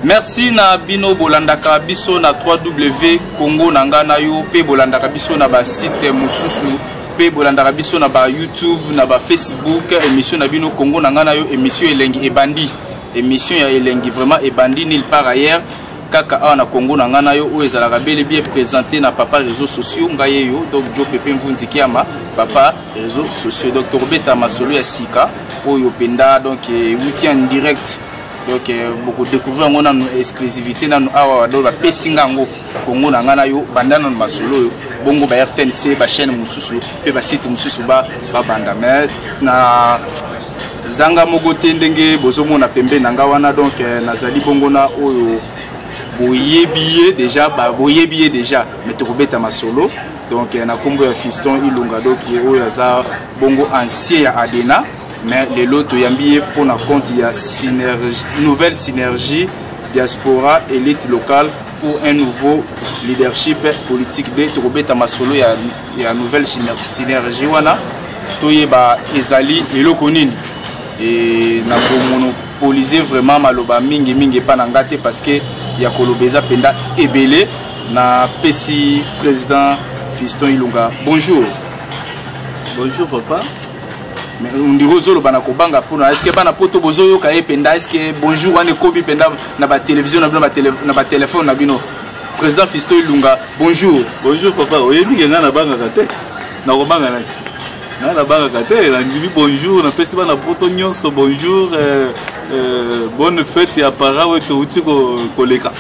merci na bino bolandaka biso na 3w congo na ngai na yo mpe bolandaka biso na basite mosusu mpe bolandaka biso na bayoutube na bafacebook émission na bino congo na ngai na yo émission elengi ebandi émission ya elengi vraiment ebandi nil par ailleurs kaka awa na congo na ngai na yo oyo ezalaka bele bien présenté na papa réseau sociaux ngai ye yo donc jo pepe mvunzi kiama papa réseau sociaux donc tokobeta masolo ya sika oyo mpenza donc euti en direct donc euh, bokodecouvrir yango nanu exclusivité nanu awa badolo bapesi nga yango kongo na ngai na yo banda nanu masolo oyo bongo ba rtnc bachaîne mosusu mpe basite mosusu babanda mais na zanga moko te ndenge bozomona pembe na ngai wana donc euh, nazali bongo na oyo boyebi ye déjà boyebi ye déjà mais tokobeta masolo donc euh, na nkombo ya fiston ilunga doki oyo aza bongo ancien ya adena mais lelo toyambi ye mpo na compte ya synergie, nouvelle synergie diaspora elite locale pour un nouveau leadership politique de tokobeta masolo ya, ya nouvelle synergie wana toyeba ezali eloko nini e, na komonopolise vraiment maloba mingi mingi epai na ngai te parce que ya koloba eza mpenza ebele na pesi président fiston ilunga bonjour bonjour papa ndeko ozoloba na kobanga mpona eske bana poto bozoyoka ye mpenza eske bonjour wana ekomi mpenza na batelevizio na bino na batelefone na bino président fisto elunga bonjour bonjour papa oyebi ke ngai nabangaka te nakobanga nani ngai nabangaka te nandimi bonjour napesi bana poto nyonso bonjour euh, euh, bonne fête ya para oyo touti koleka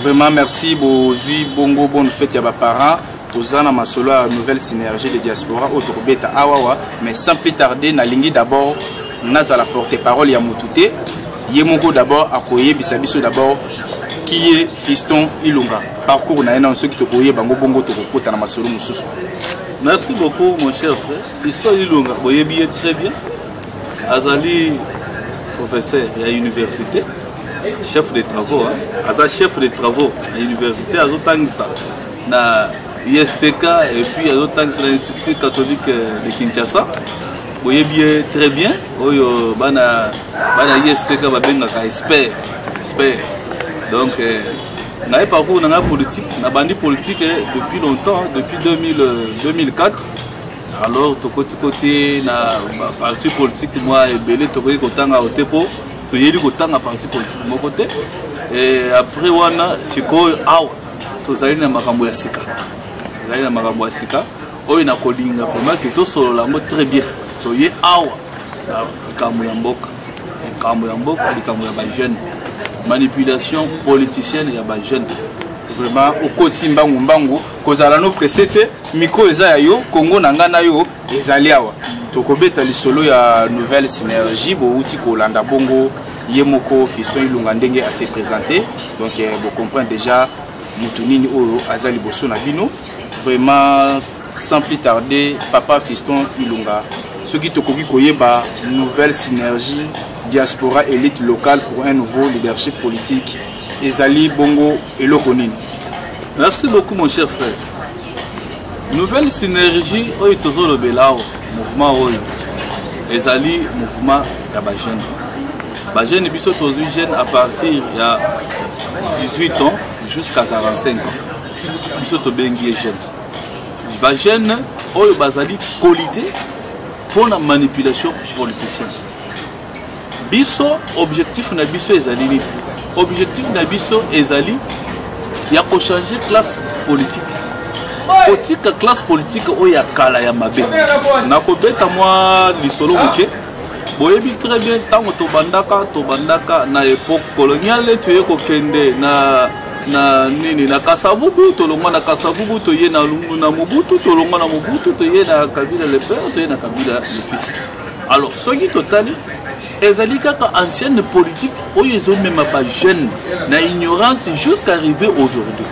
vraiment merci bozwi bongo bonne fête ya baparent toza na masolo ya nouvelle synergie de diaspora oyo tokobeta awawa mais sans plus tarder nalingi d'abord nazala porte parole ya motu te ye moko d'abord akoyebisa biso d'abord kiye fiston ilunga parcours na ye nano soki tokoyeba yango bongo tokokota na masolo mosusu merci beaucoup mon cher frère fiston ilunga boyebi ye très bien azali professeur ya université chef de travaux hein? aza chef de travaux ya université azotangisa na ISTK et puis azotangisa na Institut catholique de Kinshasa boyebi ye très bien oyo bana bana ISTK babengaka expert expert donc euh, ngai parcours na ngai politique nabandi politique eh, depuis longtemps depuis 2000, 2004 euh, alors tokotikoti na parti politique mwa ebele tokoki kotanga ote mpo toyebi kotanga parti politique moko te et après wana sikoyo awa tozali na makambo ya sika ezali na makambo ya sika oyo nakolinga vraiment ke tosolola yango très bien toye awa na likambo ya mboka likambo ya mboka likambo ya bajeune manipulation politicienne ya bajeune vraiment okoti mbangu mbangu kozala no presse te micro eza ya yo kongo na ngai na yo ezali awa tokobeta lisolo ya nouvelle synergie bowuti kolanda bongo ye moko fiston ilunga ndenge ase présente donc eh, bocomprendre déjà motu nini oyo aza liboso na bino vraiment sans plus tarder papa fiston ilunga soki tokoki koyeba nouvelle synergie diaspora élite locale pour un nouveau leadership politique ezali bongo eloko nini merci beaucoup mon cher frère nouvelle synergie oyo tozolobela awa mouvement oyo ezali mouvement ya bajeune bajeune biso tozwi jeune à partir ya 18 ans jusqu'à 45 ans biso tobengi ye jeune bajeune oyo bazali kolite mpo na manipulation politicienne biso objectif na biso ezali nini objectif na biso ezali ya kochange classe politique kotika classe politique oyo ya kala ya mabe nakobeta mwa lisolo moke boyebi très bien ntango tobandaka tobandaka na epoque coloniale toye kokende na na nini na kasavubu tolongwa na kasavubu toye na, na mobutu tolongwa na mobutu toye na kabila le père toye na kabila le fils alors soki totali ezali kaka ancienne politique oyo ezomema bajeune na ignorance jusqu'à arriver aujourd'hui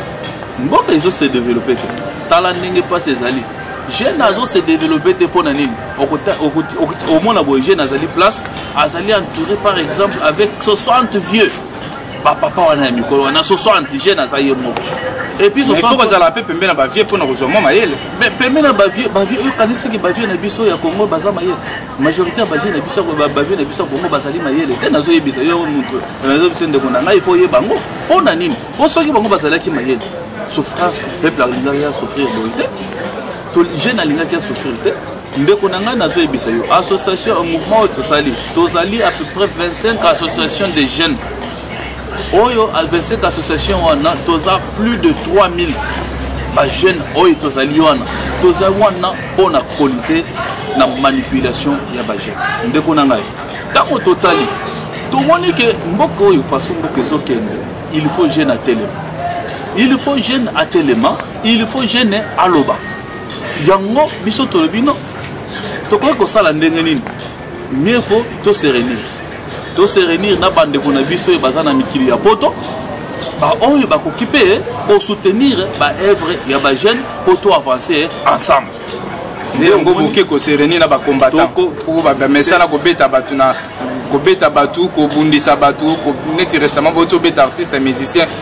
mboka ezo se développer te tala ndenge mpasi ezali jeune azo se développer te mpo na nini omona boye jeune azali place azali entouré par exemple avec 60 vieux bapapa wana ya mikolo wana soso antigène aza ye moko epuisfo kozala mpe pembe na bavie mpo na kozwa mwa mayele pembe na bavie bavie oyo kanisaki bavie na biso ya kongo baza mayele majorité ya bavie na biso bavie na biso ya kongo bazali mayele te nazoyebisa yo moto nazoyebisa ndeko na ngai ifo oyeba yango mpo na nini mpo soki bango bazalaki mayele souffrance peuple alingaki ya souffrir boye te jeune alingaki ya souffrir te ndeko na ngai nazoyebisa yo association mouvement oyo tosali tozali à peu près 25 association de jeunes oyo 25 association wana toza plus de 3000 bajeune oyo tozali wana toza wana mpo na kolite na manipulation ya bajeune ndeko na ngai ntango totali tomoni ke mboka oyo faso mboka ezokende il faut jeune atelema il faut jeune atelema il faut jeune aloba yango biso tolobi no tokoki kosala ndenge nini mieux faut to se réunir to se réunir na bandeko na biso oyo baza na mikili ya poto baoyo bakoki mpe kosoutenir baœuvre ya bajeune mpo to avancer ensemble nde yango boke kosereni na bakombata mpo bamesana kobeta bato na kobeta bato kobundisa bato neti récemment boti obeta artiste musicien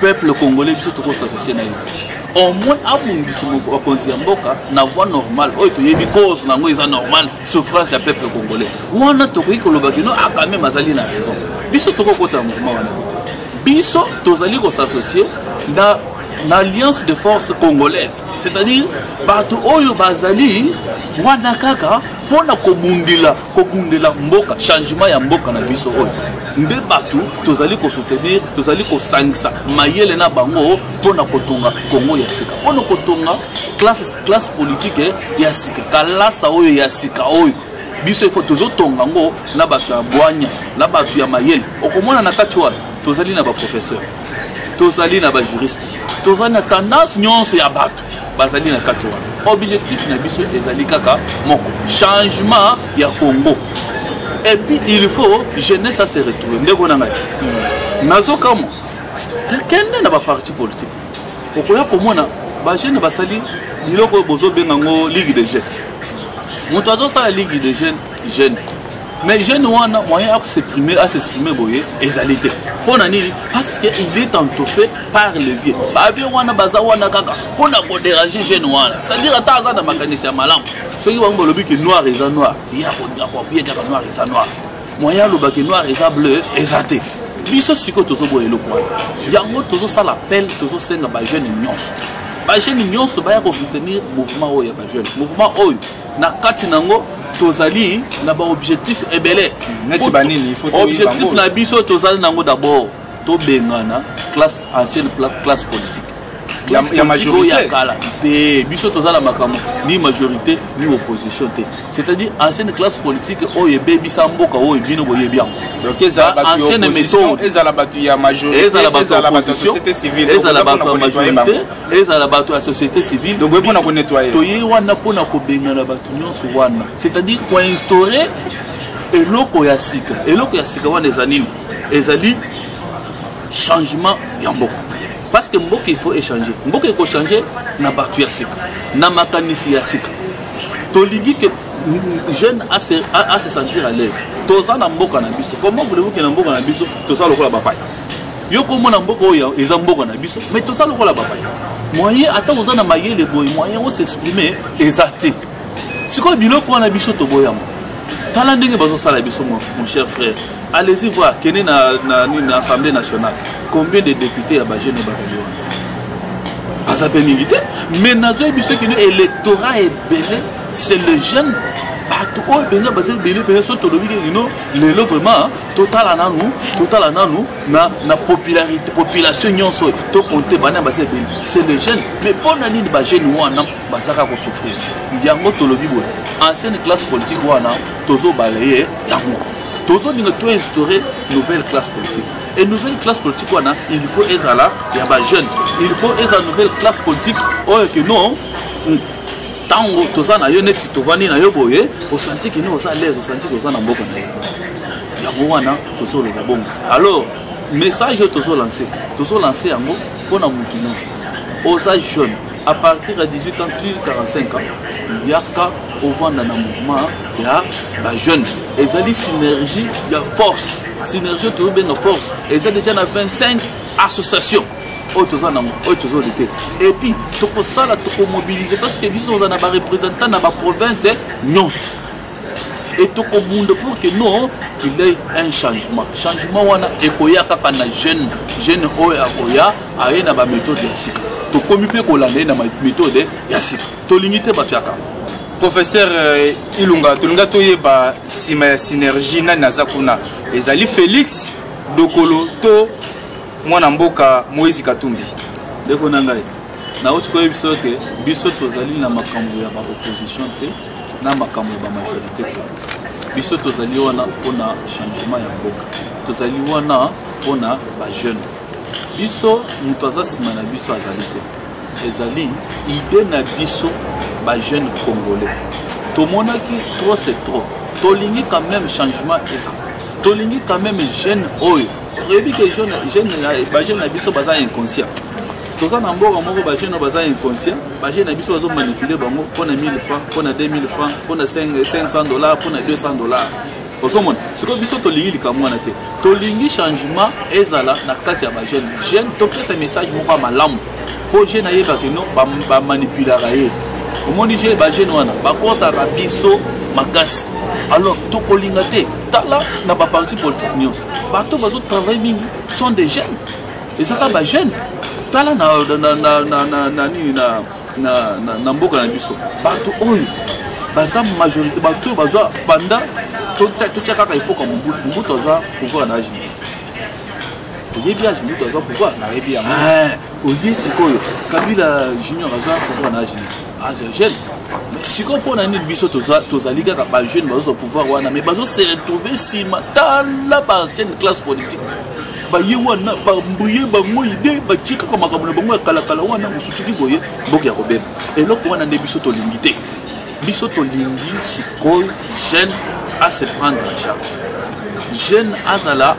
peuple congolais biso toko s'associer na ye au moins abongisa bakonzi ya mboka na voie normale oyo toyebi cause na yango eza normale souffrance ya peuple congolais wana tokoki koloba kino akameme ah, azali na raison biso tokokota mouvement wana biso tozali kosassocie na na alliance de force congolaise c'est-à-dire bato oyo bazali wana kaka mpo na kobundela kobundela mboka changement ya mboka na biso oyo nde bato tozali kosoutenir tozali kosangisa mayele na bango mpo na kotonga kongo ya sika mpo na kotonga classe politike ya sika kalasa oyo ya sika oyo biso ifo tozotonga yango na bato ya bwanya na bato ya mayele okomona na kati wana tozali na baprofesseur tozali na bajuriste tozali na tendance nyonso ya bato bazali na kati wana objectif na biso ezali kaka moko changement ya congo epuis il faut jeunesse ase retrouve ndeko na ngai hmm. nazokamwa kende na baparti politique okoya komona bajeune basali biloko oyo bozobenga yango ligue de jeune moto azosala ligue de jeune jeune mais jeune wana moyen à s'exprimer à s'exprimer boye ezali te mpo na nini parce que il est entoffé par le vieux bavie wana baza wana kaka mpo na koderange jeune wana c'est à dire ata aza na makanisi ya malamu soki bango balobi ke noir eza noir ye akoappuye kaka noir eza noir moyen aloba ke noir eza bleu eza te biso sikoyo tozoboya eloko wana yango tozosala appel tozosenga bajeune nyonso bajeune nyonso baya kosoutenir mouvement oyo ya bajeune mouvement oyo na kati na yango tozali na baobjectif ebele objectif na biso tozali na yango d'abord tobengana classe ancienne classe politique ya majorité ya kala te biso toza na makambo ni majorité ni opposition te c'est-à-dire ancienne classe politique oyo ebebisa mboka oyo bino boyebi yango ancienne méthode ezala bato ya majorité ezala bato ya opposition ezala bato ya majorité ezala bato ya société civile toye wana mpo na kobengana bato nyonso wana c'est-à-dire koinstaure eloko ya sika eloko ya sika wana eza nini ezali changement ya mboka parce que mboka il faut échanger mboka ekochange na bato ya sika na makanisi ya sika tolingi ke jeune a se sentir à l'aise toza na mboka na biso comment voulez-vous ke na mboka na biso toza lokola bapaya yo komona mboka oyo eza mboka na biso mais toza lokola bapaya moyen ata oza na mayele boye moyen osexprime eza te sikoyo biloko wana biso toboyama tala ndenge bazosala biso mon cher frère allez-y voir kende na, na, na assemblée nationale combien de députés ya bagene bazali wana baza mpe mingi te mais nazoyebi biso kino électorat ebele c'est le jeune bato oyo mpenza baza ebele mpenza so tolobi kekino lelo vraiment totala nanu totala nanu na, na popularité population nyonso oyo tokonte bana baza ebele c'est le jeune mais mpo na nini bajeune wana bazaka kosouffrir yango tolobi boye ancienne classe politique wana tozobala ye yango tozolinga toinstaure nouvelle classe politique et nouvelle classe politique wana il faut ezala ya bajeune il faut ezala nouvelle classe politique oyo ke non ntango toza na yo neti tovandi na yo boye osanti kino oza lese osanti koza na mboka na yo yango wana tozoloba bongo alors message oyo tozolanse tozolanse yango mpo na motu nyonso oza jeune à partir ya 18 ans tu 45 ans yaka ovanda na mouvement ya bajeune ezali synergie ya force synergie oyo tozobenga force eza déjà na 25 association oyo toza nango oyo tozo lite epuis tokosala tokomobilize parce que biso toza na barepresentant na baprovince nyonso et tokobunda pour que non qu'il ait un changement changement wana ekoya kaka na jeune jeune oyo akoya aye na baméthode ya sika tokomi mpe kolanda ye na méthode ya sika tolingi te bato ya kaka professeur euh, ilunga tolinga toyeba nsima ya synergie nani aza kuna ezali félix dokolo to mwana mboka moïse katumbi ndeko na ngai nauti koyebi biso ete biso tozali na makambo ya baopposition te na makambo ya bamajorité te biso tozali wana mpona changement ya mboka tozali wana mpona bajeune biso moto aza nsima na biso azali te ezali ide na biso bajeune congolais tomonaki trop c'est trop tolingi quand même changement eza tolingi quand même jeune oyo oyebi ke bajeune na biso baza inconscient toza na mboka moko bajeune baza inconscient bajeune na biso bazo manipule bango mpo na 1000 franc mpo na 2000 franc mpo na 500 dollar mpo na 200 dollar ozomona sikoyo biso tolingi likambo wana te tolingi changement ezala na kati ya bajeune jeune topesa message moko ya malamu mpo jeune ayebaki no bamanipulaka ye omoni jeune bajeune wana bakosaka biso makasi alors tokolinga te tala na baparti politike nyonso bato bazo travaille mingi sont des jeunes ezaka ba jeune tala na nini na mboka na biso bato oyo baza majorité bato oyo baza banda totya kaka epoka mobutu mobutu aza pouvoir na age nini oyebi age mobutu aza pouvoir nayebi yango olie sikoyo kabila junior aza pouvoir na age nini aza ah, jeune mais sikoyo mpo na nini biso tozali kaka bajeune bazozwa pouvoir wana mais bazose retrouve nsima tala baancienne classe politique baye wana bambuye bango ide batie kaka makambo na bango ya kalakala wana mosutuki boye mboka ya kobeba eloko wana nde biso tolingi te biso tolingi sikoyo jeune ase prendre en charge jeune azala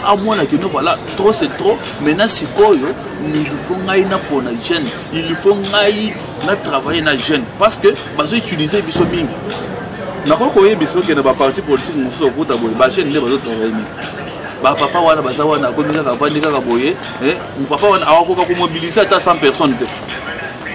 amona kino voilà trop c'est trop maintenant sikoyo il faut ngai napona jeune il faut ngai na travailler na jeune parce que bazo utiliser biso mingi nakoki koyebi soki na baparti politike mosusu okuta boye bajeune nde bazo travailler mingi bapapa wana baza wana akomi kaka avandi kaka boye eh, papa wana akoka komobilize ata 100 personnes te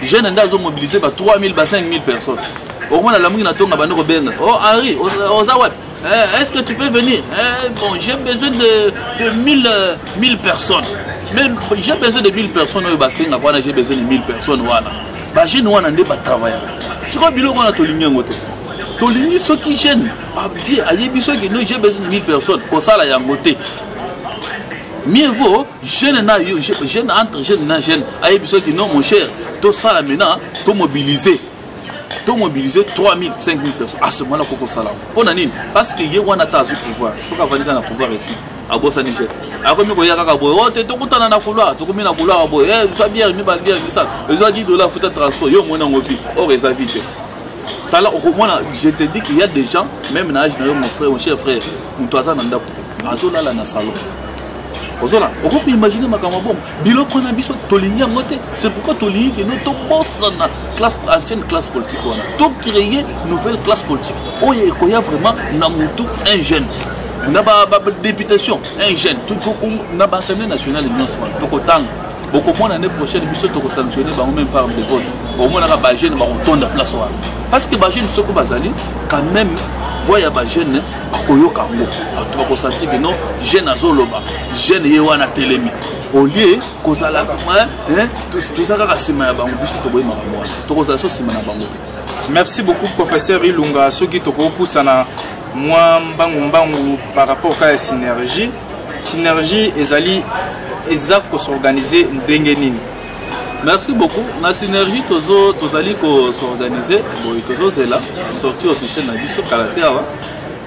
jeune nde azomobilize ba 3000 ba 5000 personnes okomona lamuki na ntonga bandi kobenga o oh, henri oza wapi Eh, est-ce que tu peux venir eh, Bon, j'ai besoin de, de 1000, 1000 euh, personnes. Même j'ai besoin de 1000 personnes oyo basenga wana j'ai besoin de 1000 personnes wana. Ba jeune wana nde ba travailler. Sikoyo biloko wana tolingi yango te. Tolingi soki jeune abie ayebi soki no j'ai besoin de 1000 personnes kosala yango te. Mieux vaut jeune na yo jeune entre jeune na jeune ayebi soki non mon cher tosala maintenant to mobiliser to mobiliser 3000 5000 personnes à ce moment là koko sala mpo na nini parce que ye wana ata azwi pouvoir soki avandi kaka na pouvoir esi abosani je akomi koya kaka boye o oh, te tokutana na couloir tokomi na couloir boye e eh, zwa biere mibale biere misala ezwa 10 dollar futa transport yo omoni yango vi or eza vi te tala okomona je te dis qu'il y a des gens même na age na yo mon frère mon cher frère moto aza na ndako te azolala na salon ozona okoki koimagine makambo bongo biloko na biso tolingi yango te c'est pourquoi tolingi kende tobosana classe ancienne classe politique wana tocreye nouvelle classe politique oyo oh, ekoya vraiment na motu un jeune na badéputation un jeune na baassemblée nationale nyonso wana tokotanga bokomona année prochaine biso tokosanctionne bango même par de vote bokomonaka bajeune bakotonda place wana parce que bajeune soko bazali quand même voix ya bajeune akoyoka yango bato bakosanti ke non jeune azoloba jeune ye wana atelemi olie kozala toza kaka nsima ya bango biso toboyi makambo wana tokozala so nsima na bango te merci beaucoup professeur ilunga soki tokopusana mwa mbangu mbangu par rapport kaka ya synergie synergie ezali eza kosorganize ndenge nini merci beaucoup na synergie tozo tozali kosorganize boye tozozela sortie officielle na biso kala te awa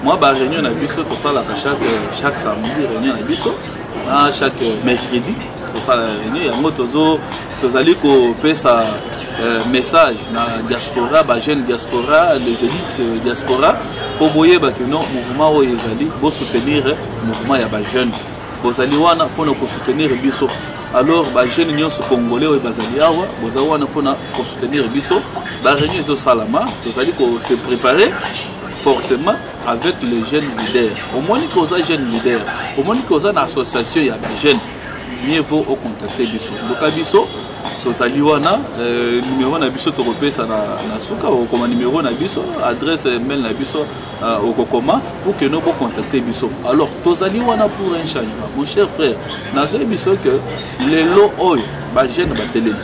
mwa baréunion na biso tosalaka chaque, chaque samedi réunion na biso na chaque mercredi tosala réunion yango tozo tozali kopesa euh, message na diaspora bajeune diaspora les élites euh, diaspora mpo boyeba kino mouvement oyo ezali bosoutenir mouvement ya bajeune bozali wana mpo na kosoutenir biso alors bajeune nyonso congolais oyo bazali awa boza wana mpo na kosoutenir biso bareunion ezosalama tozali kose préparer fortement avec le jeune leader omoni ke oza jeune leader omoni ke oza na association ya bajeune mieux vaut ocontacte biso luka biso tozali wana euh, numero na biso tokopesa na, na suka okoma numero na biso adresse mail na biso euh, okokoma pour que no bocontacte biso alors tozali wana pour un changement mon cher frère nazoyi biso que lelo oyo bajeune batelemi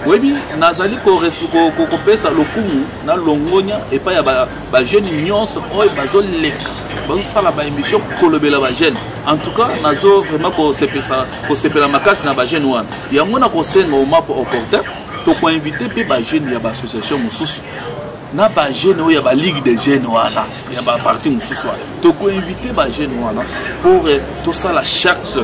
oyebi nazali kopesa lokumu na longonya epai ya bajeune nyonso oyo bazoleka bazosala baémission kolobela bajeune en tout cas nazo vraiment kosepela makasi na bajeune wana yango na kosenga omapo opportun tokoinvite mpe bajeune ya baassociation mosusu na ba jeune oyo ya ba ligue de jeune wana ya ba parti mosusu wana tokoinvite ba jeune wana pour eh, tosala charte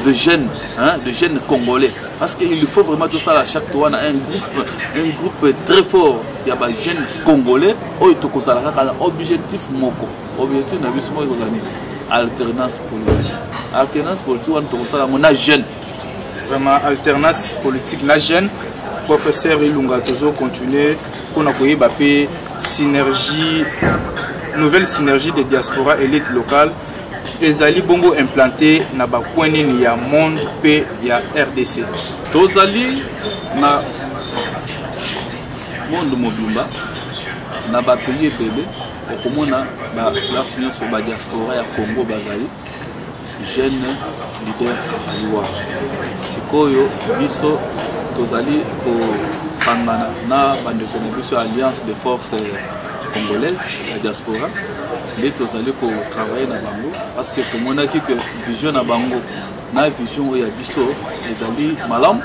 de jeune hein, de jeune congolais parce que il faut vraiment tosala charte wana un groupe un groupe très fort ya ba jeune congolais oyo tokozala kaka na objectif moko objectif na biso moko ekozala nini alternance politique alternance politique wana tokosala yango na jeune vraiment alternance politique na jeune professeur ilunga tozo continuer mpona koyeba mpe synergie nouvelle synergie de diaspora élite locale ezali bongo implante na bacoin nini ya monde mpe ya rdc tozali na monde mobimba na bapays ebele okomona baplace nyonso badiaspora ya congo bazali jeune leader azali wana sikoyo biso tozali kosangana na bandeko na biso ya alliance de force congolaise ya diaspora nde tozali kotravaille na bango parce que tomonaki que vision na bango na vision oyo ya biso ezali malamu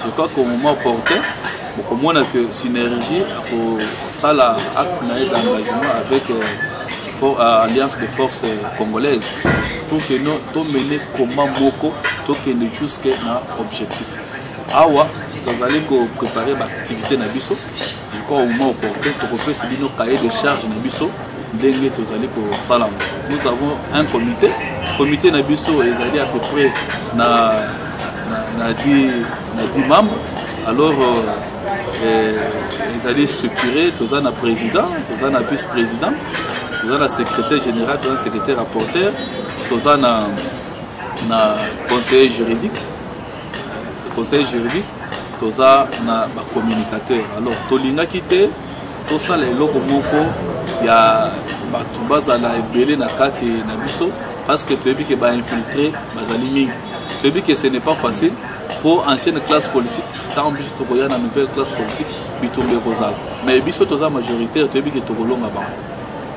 Je crois qu'au moment opportun, bokomona que Synergie akosala acte na ye d'engagement avec euh, for, euh, Alliance de Forces Congolaises pour que no tomene combat moko tokende jusque na objectif. Awa tozali koprépare baactivité na biso je crois au moment opportun tokopesa bino cahier de charge na biso ndenge tozali kosala yango nous avons un comité comité na biso ezali à peu près na na 10 membres alors euh, euh, ezali structuré toza na président toza na vice président toza na secrétaire général toza na secrétaire rapporteur toza na na conseiller juridique conseil juridique toza na bacommunicateur alors tolingaki te tosala eloko moko ya bato bazala ebele na kati na biso parce que toyebi ke bainfiltre bazali mingi toyebi ke ce n'est pas facile mpo ancienne classe politique ntango biso tokoya na nouvelle classe politique bitumba ekozala mais biso toza majoritaire toyebi ke tokolonga bango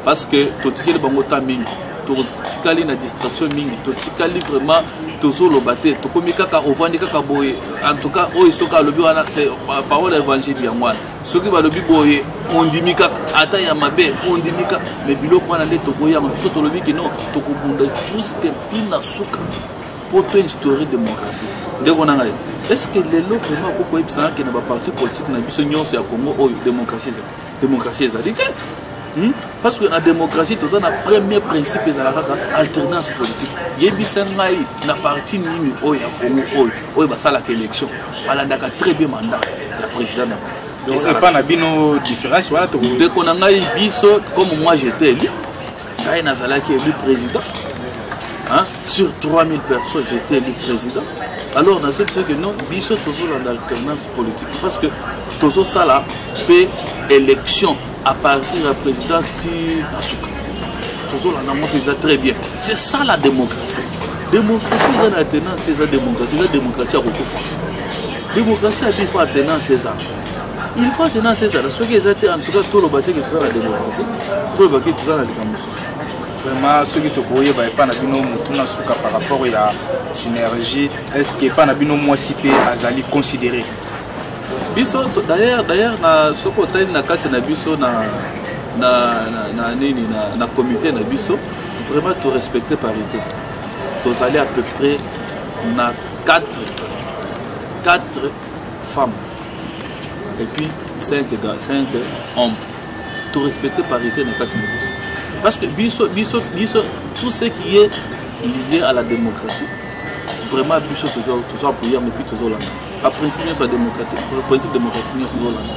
parce que totikeli bango temps mingi totikali na distraction mingi totikali vraiment tozoloba te tokomi kaka ovandi kaka boye en tout cas oyo soki alobi wana euh, parole ya évangile yango wana soki balobi boye ondimi kaka ata ya mabe ondimi kaka me biloko wana nde toboyi yango biso tolobi kino tokobunda juste ntina suka mpo to instaure démocratie ndeko na ngai est ce que lelo vraiment okoki koyebisa nake na baparti politique na biso nyonso ya congo oyo démocratie ezali Démocratie ezali te. Hmm? Parce que na démocratie toza na premier principe ezala kaka alternance politique. Yebisa ngai na parti nini oyo ya Congo oyo oyo basalaka élection balandaka très bien mandat ya président na bango. Epa na bino différence wana toko. Ndeko na ngai biso comme moi j'étais élu ngai nazalaki élu président hein? sur 3000 personnes j'étais élu président alors nazo biso que non biso tozolanda alternance politique parce que tozosala mpe élection à partir ya présidence ti na suka tozolanda yango mpenza très bien c'est ça la démocratie démocratie eza na alternance eza démocratie eza démocratie ya kokufa démocratie ya bifo alternance eza il faut tenance ezala soki eza te en tout cas toloba te ke toza na démocratie toloba ke toza na likambo mosusu vraiment soki tokoyeba epa na bino motu na suka par rapport ya synergie est ce que epa na bino mwasi mpe azali considéré biso d'ailleurs d'ailleurs na soki otali na kati na biso na na na nini na, na comité na biso vraiment to respecter parité tozali à peu près na 4 4 femme et puis 5 5 hommes to respecter parité na kati na biso parce que biso biso biso tout ce qui est lié à la démocratie vraiment biso toza apoya mais puis tozolanda baprincipe nyonso ya démocratique principe démocratique nyonso tozolanda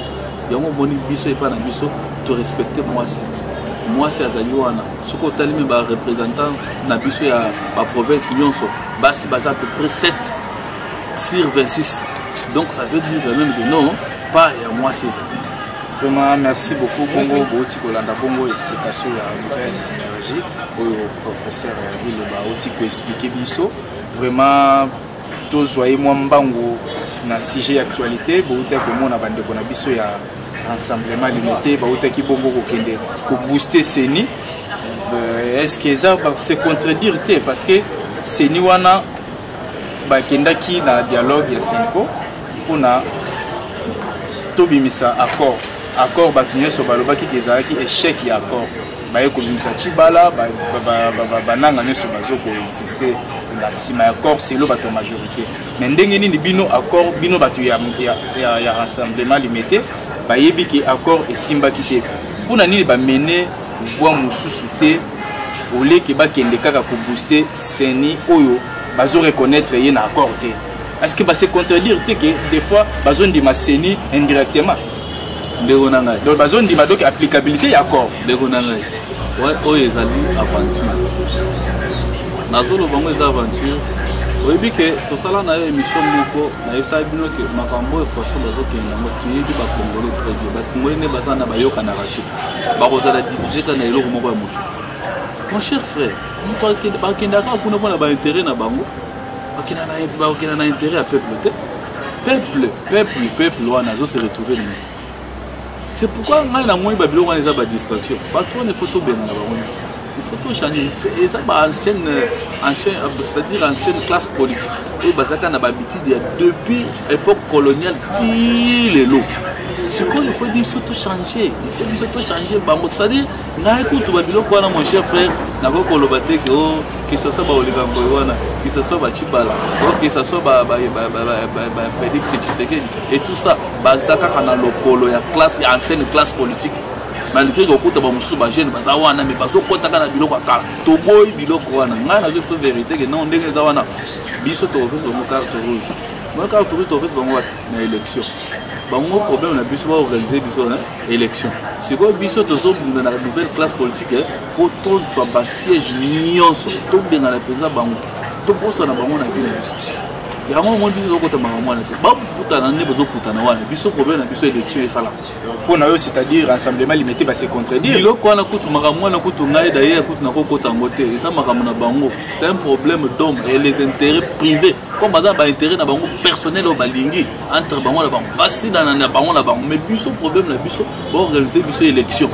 yango omoni biso epai na biso to respecter mwasi mwasi azali wana soki otali me barepresentant na biso ya baprovince nyonso basi baza peu près 7 sur 26 donc ça veut dire quand même que non pas ya mwasi ezali vraiment merci beaucoup bongo bouti kolanda bongo explication ya nouvelle synergie oyo professeur biloba auti koexplike biso vraiment tozwa ye mwa mbangu na sujet ya actualité bouti komona bandeko na biso ya rassemblement limité bautaki bongo kokende kobooste seni euh, est ce que eza se contredire te parce que seni wana bakendaki na dialogue ya senko mpona tobimisa accord accord bato nyonso balobaki te ezalaki échec ya accord baye kobimisa cibala bananga nyonso bazo koexiste na nsima ya accord selo bato ya majorité mais ndenge nini bino accord bino bato ya, ya, ya, ya rassemblement limete bayebi ke accord esimbaki te mpo na nini bamene voix mususu te oleke bakende kaka kobooste seni oyo bazo reconnaître ye na accord te est-ce que base contredire te ke des fois bazondima seni indirectement ndeko na ngai donc bazondima donc applicabilité ya accord ndeko na ngai oyo ezali aventure nazoloba yango eza aventure oyebi ke tosala na yo émission moko nayebisaki bino ke makambo oyo façon bazokende yango toyebi bakongole très bien bakongole nde baza na bayokanaka te bakozala divise kaka na eloko moko ya moto mon cher frère moto bakendaka kuna mpo na baintérêt na bango bakenda na intérêt ya peuple te peuple peuple peuple wana azo se retrouver nini c'est pourquoi ngai namoni babiloko wana eza badistraction bato wana efo tobengana bango nyonso il faut tout changer eza ba ancienne ancien c'est-à-dire ancienne classe politique oyo bazalaka na bahabitude ya depuis époque coloniale ti lelo sikoyo il faut biso tout changer il faut biso tout changer bango c'est-à-dire ngai kutu babiloko wana mon cher frère nakoki koloba te ke o kisasa baoligango wana kisasa bacibala o kisasa bapedicte tshisekedi et tout ça baza kaka na lokolo ya classe ya ancienne classe politique baluki kokuta bamosusu bajeune baza wana me bazokotaka na biloko ya kala toboyi biloko wana ngai nazo biso verité ke non ndenge eza wana biso tokopesa bango carte rouge bango carte rouge tokopesa bango wapi na élection bango problème na biso baorganize biso na élection sikoyo biso tozobunda na nouvelle classe politique eh, mpo tozwa basiège nyonso tobengana mpenza bango tobosana bango na vie na biso yango omoni biso tozokota makambo wana te bakutana nde bazokutana wana biso problème na biso élection esalaka mpo na yo c'est-à-dire rassemblement limete base contredire biloko wana kutu makambo wana kutu ngai d'ailleurs kutu nakokota yango te eza makambo na bango c'est un problème d'homme et les intérêts privés comme baza na baintérêt na bango personnel oyo balingi entre bango na bango basidana na bango na bango mais biso problème na biso baorganiser biso élection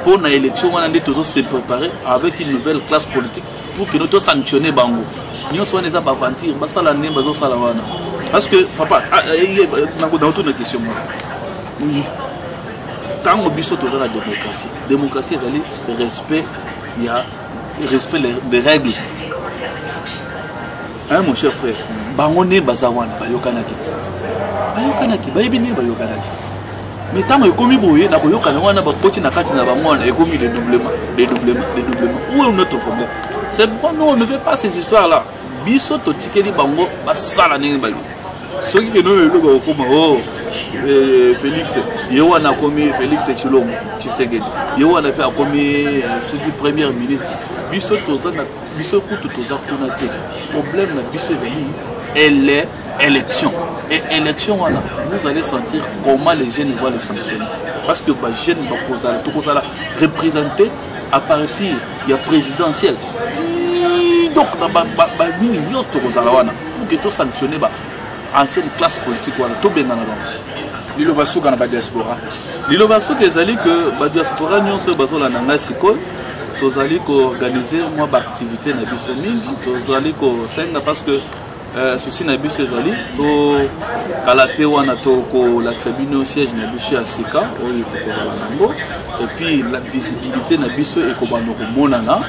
mpo na élection wana nde tozo se préparer avec une nouvelle classe politique pour que nous to sanctionner bango nyonso wana eza baventure basala ndenge bazosala wana parce que papa ah, eh, eh, nakotuna question moko ntango biso toza na démocratie démocratie ezali respect ya respect des règles hein, mon cher frère bango nde baza wana bayokanaki ti bayokanaki bayebi nini bayokanaki mais ntango ekomi boye na koyokana wana bakoti na kati na bango wana ekomi dedoublement dedoublement dedoublement où est notre problème c'est pourquoi nous on ne fait pas ces histoires là biso totikeli bango basala ndenge balingi soki keno lelo bakokoma o oh, eh, félix ye wana akomi félix tshilombo tshisekedi ye wana mpe akomi eh, soki première ministre biso toza na biso kutu toza kuna te problème na biso ezali elle élection et élection wana vous allez sentir comment les jeunes voient les sanctions parce que bajeune bakozala tokozala représenté à partir ya présidentielle ti donc banini nyonso tokozala wana pour que tosanctionne ba ancienne classe politique wana tobengana bango liloba suka na badiaspora liloba suka ezali ke badiaspora nyonso oyo bazolanda ngai sikoyo tozali koorganize mwa baaktivité na biso mingi tozali kosenga parce que Euh, souci na biso ezali tokala te wana tokolakisa bino siège na biso ya sika oyo tokozala nango epuis la visibilité na biso ekobanda komonana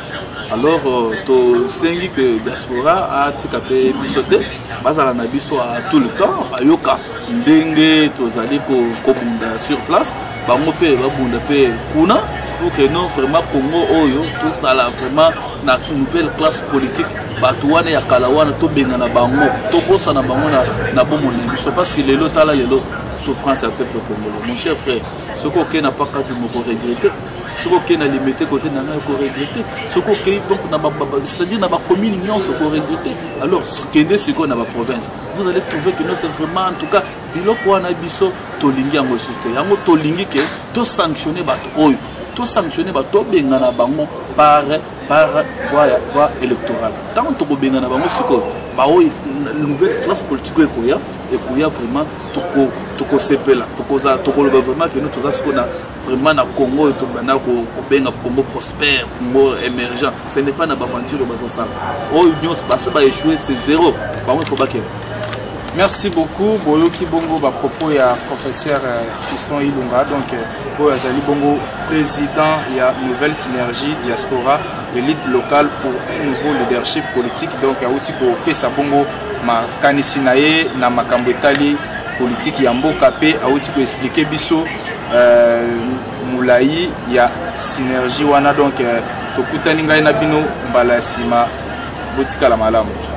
alors euh, tosengi ke diaspora atika mpe biso te bazala na biso a tout le temps bayoka ndenge tozali kobunda sur place bango mpe babunda mpe kuna pour que non vraiment congo oyo tosala vraiment na nouvelle classe politique bato wana ya kala wana tobengana bango tobosana bango na, na bomoi na biso parce que lelo tala lelo souffrance ya peuple congolais mon cher frère soki okei na paka du moko regrete soki okei na limete kote na ngai koregrete soki okei donc c'est-à-dire na bacommune nyonso koregrete alors kende sikoyo na baprovince vous allez trouver que non c'est vraiment en tout cas biloko wana biso tolingi yango lisusu te yango tolingi ke tosanctionne bato oyo tosanctionne bato tobengana bango par par voie électorale ntango tokobengana bango sikoyo baoyo nouvelle classe politique oyo ekoya ekoya vraiment tokosepela tokozala tokoloba vraiment keno toza sikoyo na vraiment na congo oyo tobanda kobenga congo prospère congo émergent ce n'est pas na baventure oyo bazosala oyo nyonso basi baéchoue c'est zéro bango ifo bakela merci beaucoup boyoki bongo bapropos ya professeur euh, fiston ilunga donc euh, oyo azali bongo président ya nouvelle synergie diaspora élite locale pour un nouveau leadership politique donc awuti kopesa bongo makanisi na ye na makambo etali politiki ya mboka mpe awuti koexplike biso euh, molai ya synergie wana donc euh, tokutani ngai na bino mbala ya nsima botikala malamu